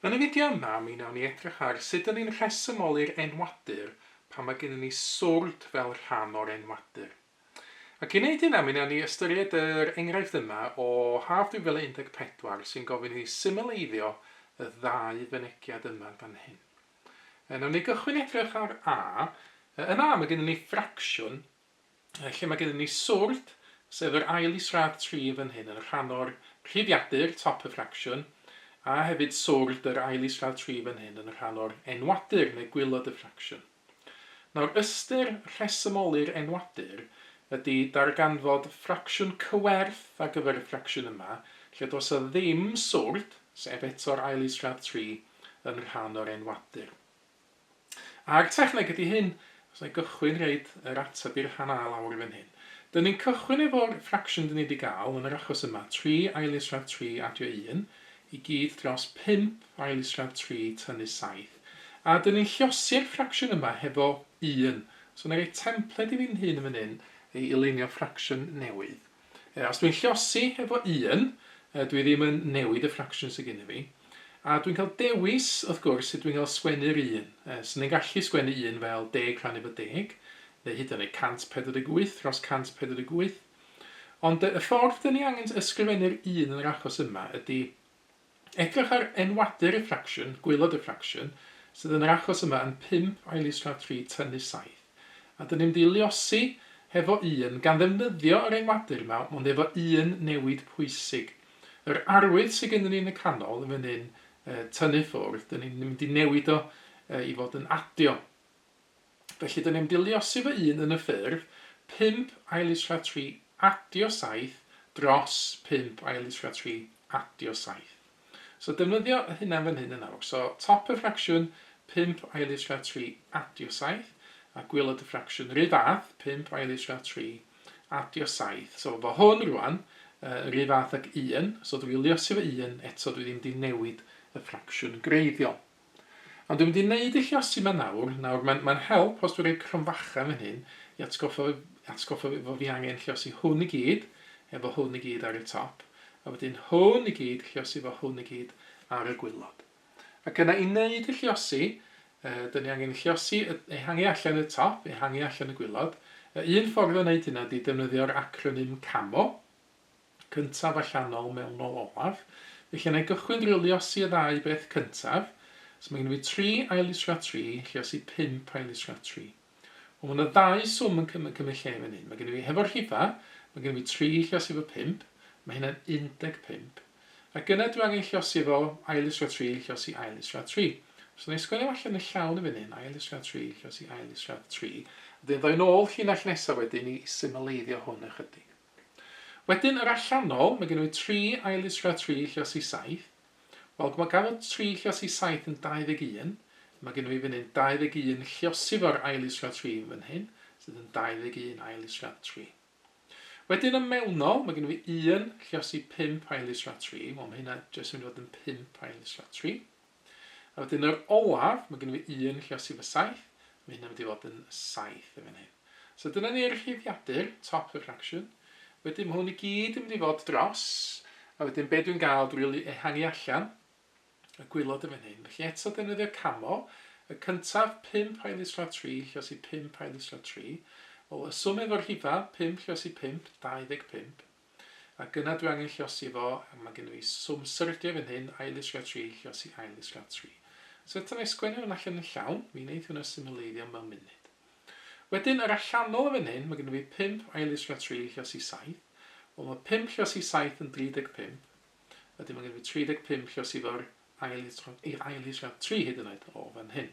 Yn y fideo yma, mi wnawn ni edrych ar sut dŷn ni'n rhesymoli'r enwadur pan mae gennyn ni swrd fel rhan o'r enwadur. Ac i wneud hynna, mi wnawn ni ystyried yr enghraifft yma o Haf 2014 sy'n gofyn i ni symleiddio y ddau fynegiad yma fan hyn. Wnawn ni gychwyn edrych ar A. Yn A, mae gennyn ni ffracsiwn Felly mae gennym ni swrd, sef yr ail israd tri fan hyn yn rhan o'r rhifiadur, top of fraction, a hefyd swrd yr ail israd tri fan hyn yn rhan o'r enwadur neu gwaelod y ffracsiwn. Nawr, ystyr rhesymoli'r enwadur ydy darganfod ffracsiwn cyfwerth ar gyfer y ffracsiwn yma lle does 'na ddim swrd, sef eto'r ail israd tri, yn rhan o'r enwadur. A'r techneg ydi hyn, os na i gychwyn roid yr ateb i'r rhan A lawr i fan hyn. Dyn ni'n cychwyn efo'r fraction dyn ni di ga'l yn yr achos yma, tri ail isradd tri adio un, i gyd dros pump ail isradd tri tynnu saith. A dyn ni'n llosi'r ffracsiwn yma hefo un. So na i roi templed i fi'n hun yn fan hyn i i lunio ffracsiwn newydd. Yy, os dwi'n llosi efo un, yy, dwi ddim yn newid y ffracsiwn sy gynna fi. A dwi'n cael dewis, wrth gwrs, sut dwi'n cael sgwennu'r un. Yy, swn i'n gallu sgwennu un fel deg rhannu efo deg, neu hyd yn oed 148 dros 148. Ond yy, y ffordd 'dan ni angen ysgrifennu'r un yn yr achos yma ydi Edrych ar enwau diriffraction, gwaelod diffraction, sydd yn yr achos yma yn 5 ail is-gradd 3 tynnu 7, a dyn ni'n mynd i luosi hefo 1, gan ddefnyddio yr enwadur yma, ond efo un newid pwysig. Yr arwydd sydd gennyn ni yn y canol yn fan hyn, tynnu ffwrdd, dyn ni'n mynd i newid o i fod yn adio. Felly dyn ni'n diliosi fy un yn y ffurf, pump ailitrea tri adio saith dros pump ailitrea tri adio saith. So defnyddio y hunan fan hyn yn awr. So top y ffracsiwn, pump ailitrea tri adio saith, a gwylod y ffracsiwn ry fath, pump ailitrea tri adio saith. So fo hwn rwan, uh, ry fath ag un, so dwi iliosi fy un, eto dwi ddim di newid y ffracsiwn greiddiol. Ond dwi'n mynd i neud y lluosi 'ma nawr, nawr mae'n mae'n help os dwi'n rhoi cromfacha yn fan hyn i atgoffa fi atgoffa fi fo fi angen lluosi hwn i gyd efo hwn i gyd ar y top a wedyn hwn i gyd lluosi fo hwn i gyd ar y gwylod. Ac yna i neud y lluosi yy 'dyn ni angen lluosi yy ehangu allan y top, ehangu allan y gwylod. Y un ffordd o neud hynna ydi defnyddio'r acronym CAMO. cyntaf allanol mewnol olaf, felly wna i gychwyn drwy liosi y ddau beth cyntaf. So mae gen i fi tri aillisio a tri, lliosi pump aillisio a tri. Wel, mae yna ddau swm yn cymryd lle fan hyn. Mae gen i fi hefo'r rhifa, mae gen i fi tri lliosi efo pump, mae hynna'n 15. Ac yna dwi angen lliosi efo aillisio a tri, lliosi aillisio a tri. So wna i sgwennu allan yn llawn yn fan hyn, aillisio a tri, lliosi aillisio a tri. Wedyn ddoi nôl llinell nesaf wedyn i symleiddio hwn ychydig. Wedyn yr allanol, mae gennyf fi tri ail ddisgwyl a tri lluos i saith. Wel, mae gan fod tri lluos i saith yn 21, mae gennyf fi fan hyn 21 lliosi fo'r ail ddisgwyl a tri yn fan hyn, sydd yn 21 ail ddisgwyl a tri. Wedyn y mewnol, mae gennyf fi un lliosi pump ail ddisgwyl a tri, wel mae hynna jyst yn mynd i fod yn pump ail ddisgwyl a tri. A wedyn yr olaf, mae gen i fy un lle os i fy saith, mae hynna'n mynd i fod yn saith yn fan hyn. So dyna ni'r rhifiadur, top y fraction. Wedyn mae hwn i gyd yn mynd i fod dros, a wedyn be dwi'n gael dwi'n rili ehangu allan y gwylod yn fan hyn. Felly eto defnyddio camo, y cyntaf 5 rhai lusrad 3 lle os i 5 rhai lusrad 3. Wel, y swm efo'r rhifau, 5 lle os i 5, 25. ac yna dwi angen llosi fo ac mae gennyf fi swm syrldio fan hyn, ail ddisglaw tri, llosi ail ddisglaw tri. So eto na i sgwennu hwn allan yn llawn, mi wneith hwnna simileiddio mewn munud. Wedyn yr allanol fan hyn, mae gennyf fi pump, ail ddisglaw tri, llosi saith, wel mae pump llosi saith yn 35, wedyn mae gennyf fi 35 llosi fo'r ail, i'r ail ddisglaw tri hyd yn oed o fan hyn.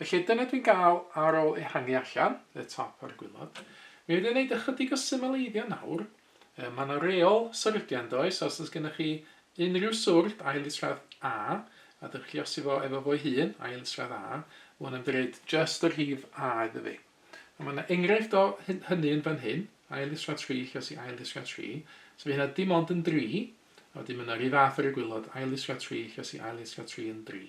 Felly dyna dwi'n gael ar ôl ehangu allan y top a'r gwilod. Mi fydd yn gwneud ychydig o symaleiddio nawr. Mae yna reol syrdiau yn does, os oes gennych chi unrhyw swrd ail isradd A, a dych chi osi fo efo fo'i hun, ail isradd A, mae hwn yn dreid just y rhif A iddo fi. A mae yna enghraifft o hynny yn fan hyn, ail isradd 3, lle os i ail isradd 3, so fe hynna dim ond yn 3, a wedyn mae yna rhyw fath ar y gwilod, ail isradd 3, lle os i ail isradd 3 yn 3.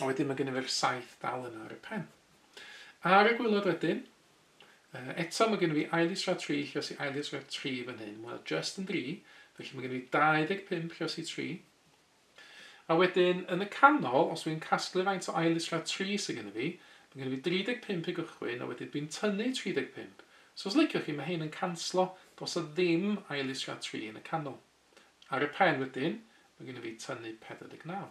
A wedyn mae gennym ni'r saith dal yna ar y pen. Ar y gwylod wedyn, eto mae gennym ni ail isra tri, lluos i ail isra tri fan hyn. Wel, just yn dri, felly mae gennym ni 25 lluos i tri. A wedyn, yn y canol, os wy'n casglu faint o ail isra tri sydd gennym fi, mae gennym fi 35 i gychwyn, a wedyn dwi'n tynnu 35. So os liciwch chi, mae hyn yn canslo, dos o ddim ail isra tri yn y canol. Ar y pen wedyn, mae gennym fi tynnu 49.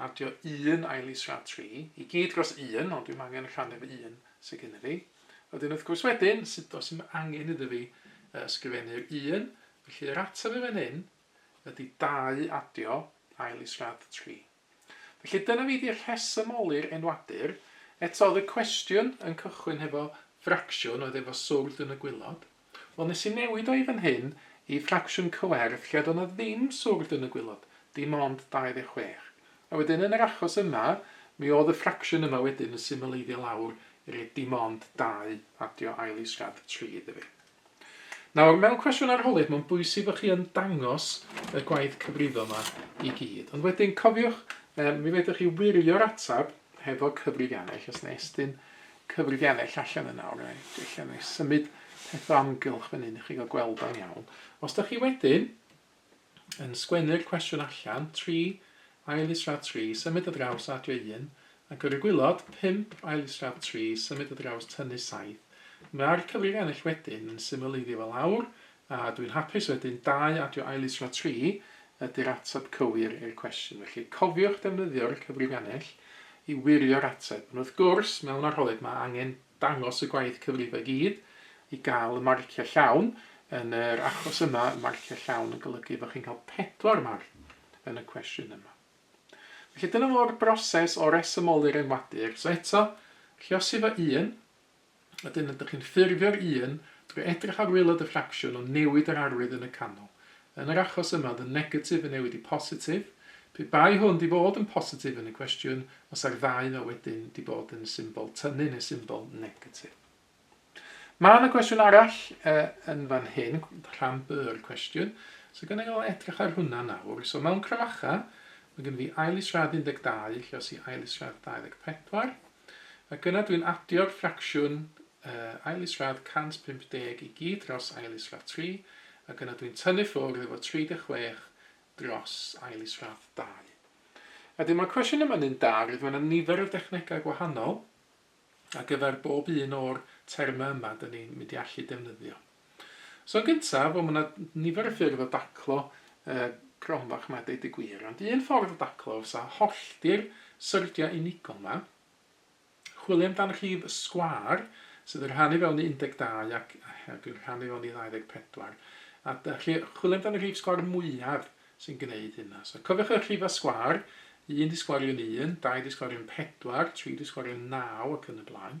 Adio un ail is rhad tri, i gyd dros un, ond dwi'm angen rhannu fy un sy gynna fi. Wedyn wrth gwrs wedyn, sut os i'm angen iddo fi ysgrifennu'r un, felly yr ateb i fan hyn ydy dau adio ail is rhad tri. Felly dyna fi di rhesymoli'r enwadur. Eto oedd y cwestiwn yn cychwyn hefo fracsiwn oedd efo swrdd yn y gwilod. Wel, nes i newid o i fan hyn i ffracsiwn cywerth lle do' 'na ddim swrd yn y gwilod, dim ond 26. A wedyn yn yr achos yma, mi o'dd y ffracsiwn yma wedyn yn symleiddio lawr i roi dim ond 2, adio ail isradd 3 iddo fi. Nawr, mewn cwestiwn arholiad, mae'n bwysig bod chi yn dangos y gwaith cyfrifo yma i gyd. Ond wedyn, cofiwch, um, mi fedrwch chi wirio'r atab hefo cyfrifiannau, lle os na estyn cyfrifiadau allan yna, alright, ella wna i symud peth o amgylch fan hyn i chi gael gweld o'n iawn. Os da chi wedyn yn sgwennu'r cwestiwn allan, tri, ail israd tri, symud o draws adio un, ac ar y gwylod, pump, ail israd tri, symud o draws tynnu saith, mae'r cyfrifiannell wedyn yn symleiddio fel awr, A ydw i'n hapus wedyn? Dau adio ailys tro tri ydy'r ateb cywir i'r cwestiwn. Felly, cofiwch defnyddio'r cyfrifgannell i wirio'r ateb. Ond wrth gwrs, mewn arholiad mae angen dangos y gwaith cyfrifo i gyd i gael y marciau llawn. Yn yr achos yma, marciau llawn yn golygu fod chi'n cael pedwar marc yn y cwestiwn yma. Felly dyna fo'r broses o resymoli'r enwadur. So eto, lluosi fo un, Wedyn ydych chi'n ffurfio'r un drwy edrych ar waelod y ffracsiwn ond newid yr arwydd yn y canol. Yn yr achos yma, oedd y negatif yn newid i positif. Pe bai hwn 'di bod yn positif yn y cwestiwn, fasa'r ddau 'na wedyn 'di bod yn symbol tynnu neu symbol negatif. Mae yna gwestiwn arall e, yn fan hyn, rhan byr cwestiwn. So gynnu i edrych ar hwnna nawr. So mewn crymacha, mae gen fi ail isradd 12, lle os i ail isradd 24. ac yna dwi'n adio'r ffracsiwn ail isradd 150 i gyd dros ail isradd 3, ac yna dwi'n tynnu ffwrdd efo 36 dros ail isradd 2. A wedyn mae'r cwestiwn yma'n un da, roedd mae yna nifer o dechnegau gwahanol ar gyfer bob un o'r termau yma dyn ni'n mynd i allu defnyddio. So yn gyntaf, wel ma' 'na nifer o ffyrdd o daclo yy gronfa ch'mod deud y gwir ond un ffordd o daclo fysa hollti'r syrdia unigol 'ma, chwilio amdan rhif y sgwâr sydd yn rhannu fewn i 12 ac ac yn rhannu fewn i 24 a da- rhi- chwilio amdan y rhif sgwâr mwyaf sy'n gneud hynna. So cofiwch y rhifau sgwâr, 1 di sgwario'n 1, 2 di sgwario'n 4, 3 di sgwario'n 9 ac yn y blaen.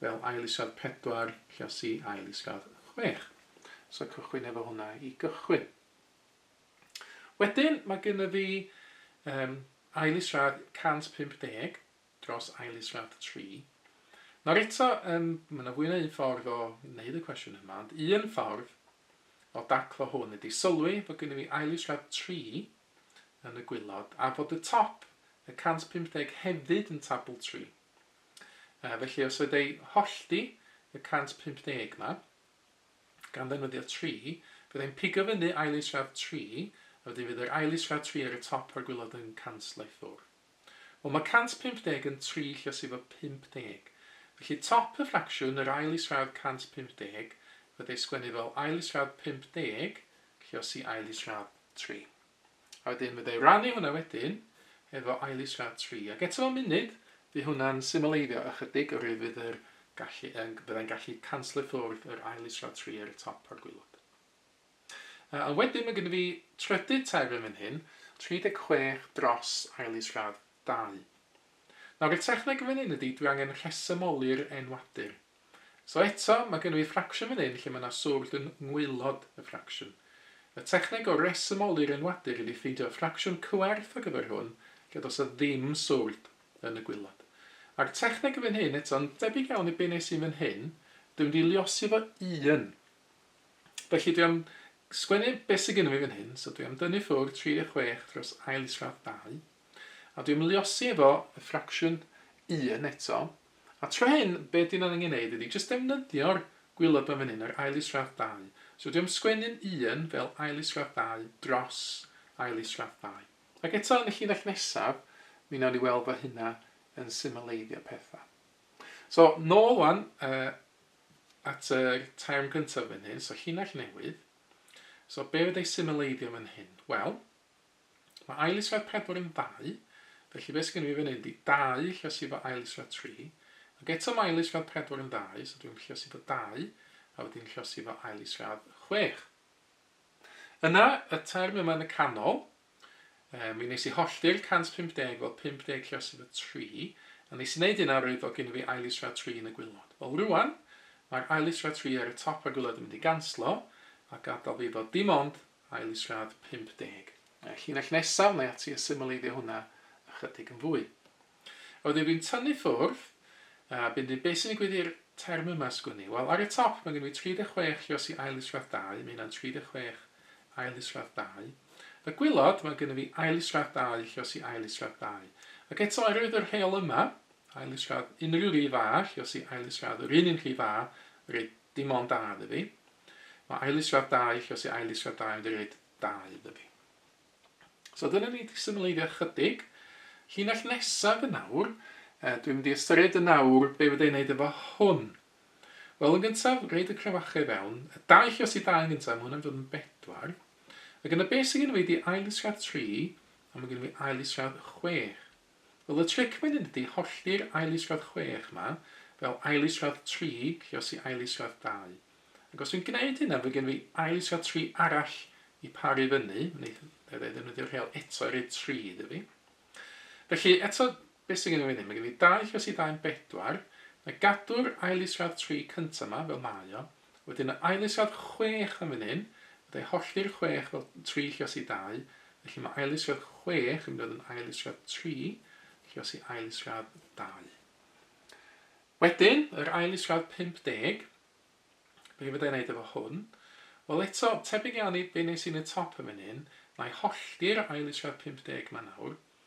fel ail is-radd pedwar, Llas i ail is-radd chwech. So cychwyn efo hwnna i gychwyn. Wedyn mae gynnu fi um, ail is-radd 150 dros ail is-radd 3. Nawr eto, um, mae yna fwy na un ffordd o wneud y cwestiwn yma, ond un ffordd o daclo hwn ydy sylwi bod gynnu fi ail is-radd 3 yn y gwylod a bod y top y 150 hefyd yn tabl 3. Felly, os oedd eu hollti, y 150 'ma, gan ddefnyddio tri, fydda i'n pigo fyny ail isradd tri, a wedyn fydd yr ail isradd tri ar y top a'r gwilod yn canslo i ffwrdd. Wel, mae 150 yn tri lluosi efo 50. Felly, top y ffracsiwn, yr ail isradd 150, fydda i sgwennu fel ail isradd 50 lluosi ail isradd tri. A wedyn fydda i rannu hwnna wedyn efo Eilís Rhad Tri. Ac eto mewn munud, fydd hwnna'n symleiddio ychydig oherwydd fydd yr gallu yn, fydda i'n gallu canslo i ffwrdd yr Eilís Rhad Tri ar y top o'r gwilod. Uh, a wedyn mae gen i fi trydydd terfyn fan hyn, 36 dros Eilís Rhad 2. Nawr y techneg yn fan hyn ydy, dwi angen rhesymoli'r enwadur. So eto, mae gynno fi ffracsiwn fan hyn lle mae 'na swrd yn ngwaelod y ffracsiwn. Y techneg o resymoli'r enwadur ydi ffeindio ffracsiwn cyfwerth ar gyfer hwn lle does 'na ddim swrd yn y gwaelod. A'r techneg yn fan hyn eto, yn debyg iawn i be wnes i'n fan hyn, dwi'n mynd i liosi fo un. Felly dwi am sgwennu be sydd gynno fi fan hyn, so dwi am dynnu ffwrdd 36 dros ail isradd 2, a dwi am liosi efo y ffracsiwn 1 eto, A tra hyn, be dyn ni'n angen neud ydi jyst defnyddio'r gwilod fan fan hyn, yr ail isradd dau. So dwi am sgwennu'n un fel ail isradd dau dros ail isradd ddau. Ac eto yn y llinell nesaf, mi nawn ni weld fo hynna yn symleiddio petha. So nôl wan uh, at yr term gyntaf fan hyn, so llinell newydd. So be fydda i symleiddio fan hyn? Wel, Mae ail isradd pedwar yn ddau, felly be sy gen i fi fan hyn 'di dau lluosi efo ail isradd tri, ac eto mae ail isradd pedwar yn ddau, so dwi'n lluosi efo dau, a wedyn lluosi efo ail isradd chwech. Yna, y term yma yn y canol, e, mi nes i hollti'r 150 fel 50 lluosi efo tri, a nes i wneud hynna roedd o gen i fi ail isradd tri yn y gwylod. Wel rwan, mae'r ail isradd tri ar y top a'r gwylod yn mynd i ganslo, a gadael fi efo dim ond Ail is radd 50. Y llinell nesaf, wnai ati a symaleiddio hwnna ychydig yn fwy. A wedyn dwi'n tynnu ffwrdd, a byn dyn be sy'n digwydd i'r term yma sgwn i? Wel, ar y top mae gen i 36 lluos i ail is radd 2, mae hynna'n 36 ail is radd 2. Y gwylod, mae gen i fi ail is radd 2 lluos i ail is radd 2. Ac eto, oherwydd yr rheol yma, ail is radd unrhyw rif A lluos i ail is radd yr un un rhif A, reit, Dim ond da iddo fi. Mae ailyswad da i chi os yw ailyswad da yn mynd i roed da iddo fi. So dyna ni wedi symleiddio chydig. Llinell nesaf yn awr, uh, dwi'n mynd i ystyried yn awr be fydda i'n neud efo hwn. Wel, yn gyntaf, reid y crewachau i fewn. Y da i chi os i da yn gyntaf, mae hwnna'n dod yn bedwar. Ac yna beth sy'n gen i wedi ailyswad tri, a mae gen i ailyswad chwech. Wel y tric wedyn ydi hollti'r ail is-radd chwech 'ma, fel ail is-radd tri, ciosi ail is-radd dau. Ac os dwi'n gneud hynna fy' gen fi ail is-radd tri arall i paru fyny, neith e ddefnyddio'r rheol eto i roi tri iddo fi. Felly eto be' sy gen i fan 'yn, ma' gen fi dau chiosi dau'n bedwar, na gadw'r ail is-radd tri cynta 'ma fel mae o, Wedyn y ail-isiodd chwech yn fan hyn, fod e hollti'r chwech fel tri llios i dau, felly mae ail-isiodd chwech yn mynd i fod yn ail-isiodd tri llios i ail-isiodd dau. Wedyn, yr ail-isiodd 50, be fydda i'n neud efo hwn? Wel eto, tebyg iawn i be nes i yn y top yn fan hyn, mae hollti'r ail-isiodd 50 ma nawr,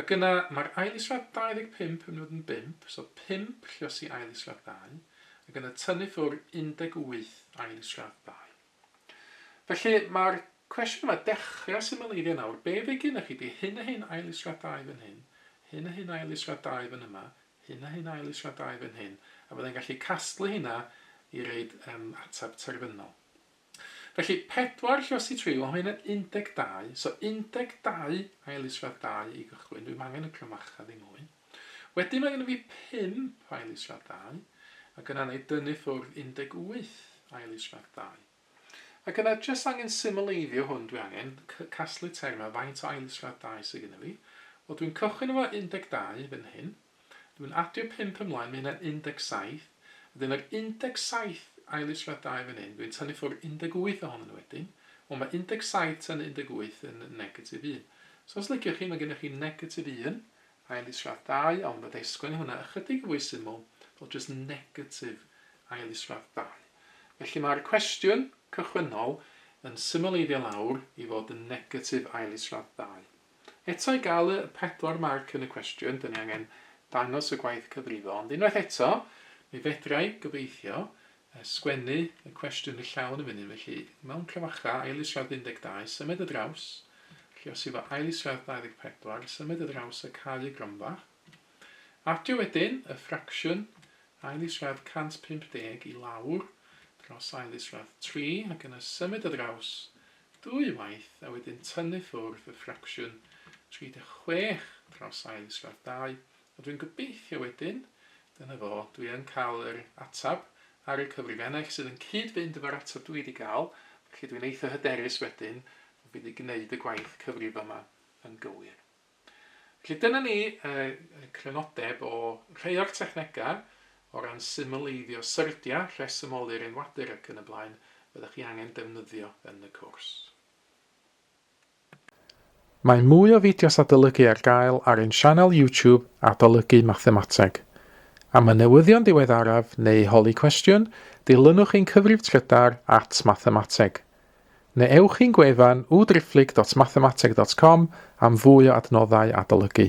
Ac yna, mae'r ail isradd 25 yn mynd i fod yn bump, so pump lliosi ail isradd ddau, ac yna tynnu ffwr 18 ail isradd ddau. Felly, mae'r cwestiwn yma, dechrau symleirio nawr, be fydd gennych chi, ydy hyn a hyn ail isradd ddau fan hyn, hyn a hyn ail isradd ddau fan yma, hyn a hyn ail isradd ddau fan hyn, a fydda i'n gallu casglu hynna i roid um, ateb terfynol. Felly, pedwar lle os ti tri, wel mae hyn yn 12, so 12 ail isradd 2 i gychwyn, dwi'm angen y clymacha ddim mwy. Wedyn mae gen i fi 5 ail isradd 2, ac yna na i dynnu ffwrdd 18 ail isradd 2. Ac yna jyst angen symleiddio hwn dwi angen, casglu termau faint o ail isradd 2 sydd gen i fi. Wel dwi'n cychwyn efo 12 fan hyn, Dwi'n adio pump ymlaen, mae hynna'n 17. Wedyn yr 17 ail israddau fan hyn, dwi'n tynnu ffwrdd 18 ohonyn nhw wedyn. Wel, mae 17 tynnu 18 yn negatif 1. So os liciwch chi, mae gennych chi negatif 1 ail israddau, ond fydda i sgwennu hwnna ychydig yn fwy syml fel jyst negatif ail israddau. Felly mae'r cwestiwn cychwynnol yn symleiddio lawr i fod yn negatif ail israddau. Eto i gael y pedwar marc yn y cwestiwn, dan ni angen dangos y gwaith cyfrifo, ond unwaith eto, mi fedra i, gobeithio, sgwennu y cwestiwn yn llawn yn fan hyn, felly mewn clefachau, ailisiad 12, symed y draws, felly os efo ailisiad 24, symed y draws a cau y gronfa. Adio wedyn y ffracsiwn ailisiad 150 i lawr dros ailisiad 3, ac yna symed y draws ddwy waith a wedyn tynnu ffwrdd y ffracsiwn 36 dros ail sgwâr 2, a dwi'n gobeithio wedyn, dyna fo, dwi yn cael yr ateb ar y cyfrifennell sydd yn cyd-fynd efo'r ateb dwi 'di gael, felly dwi'n eitha hyderus wedyn fy mod i 'di gneud y gwaith cyfrifo 'ma yn gywir. Felly dyna ni yy crynodeb o rhei o'r technegau o ran symyleiddio syrdia, rhesymoli'r enwadur ac yn y blaen, fyddech chi angen defnyddio yn y cwrs. Mae mwy o fideos adolygu ar gael ar ein sianel YouTube Adolygu Mathemateg. Am y newyddion diweddaraf neu holi cwestiwn, dilynwch ein cyfrif trydar at Mathemateg. Neu ewch i'n gwefan www.driphlyg.mathemateg.com am fwy o adnoddau adolygu.